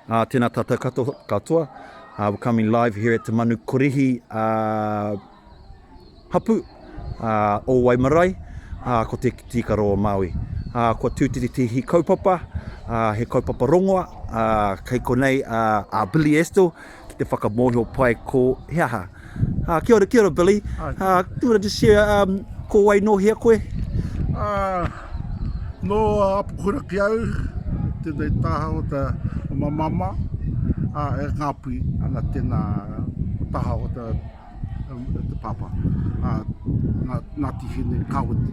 Uh, tēnā tātou katoa, katoa. Uh, we're coming live here at Te Manu Korihi uh, Hapu uh, o Waimarae, uh, ko te tīkaro o Māui. Uh, kua tūtiritihi kaupapa, uh, he kaupapa rongoa, uh, kei konei uh, a Billy Estill, ki te whakamōhio pai ko he aha. Uh, kia ora, kia ora, Billy. Hi. Uh, do you want to just share, um, ko wai no hea koe? Uh, no apukura ki au, tēnei taha o te mamama, uh, e ngāpui ana tēnā taha o te, um, te papa, uh, Ngāti Hine Kawiti.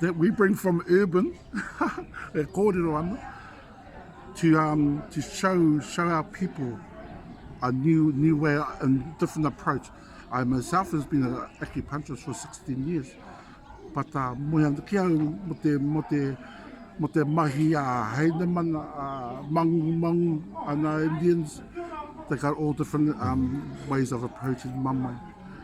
that we bring from urban, e kōrero ana, to, um, to show, show our people a new, new way and different approach. I myself has been an acupuncturist for 16 years, but uh, moe ana ki au mo te, mo te, mo te mahi a uh, Heinemann, uh, Mangu, Mangu, and uh, Indians, they got all different um, ways of approaching mamae.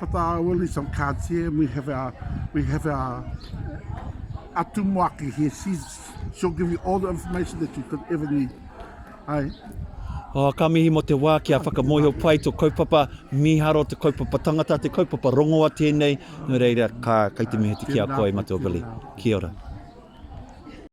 But I will leave some cards here. We have our, we have our Atumuaki here. She's, she'll give you all the information that you could ever need. Hai. Oh, ka mihi mo te wā ki a whakamohio pai to kaupapa miharo, te kaupapa tangata, te kaupapa rongoa tēnei. Nō reira, ka, kai te mihi te ki a koe, Matua Billy. Kia ora.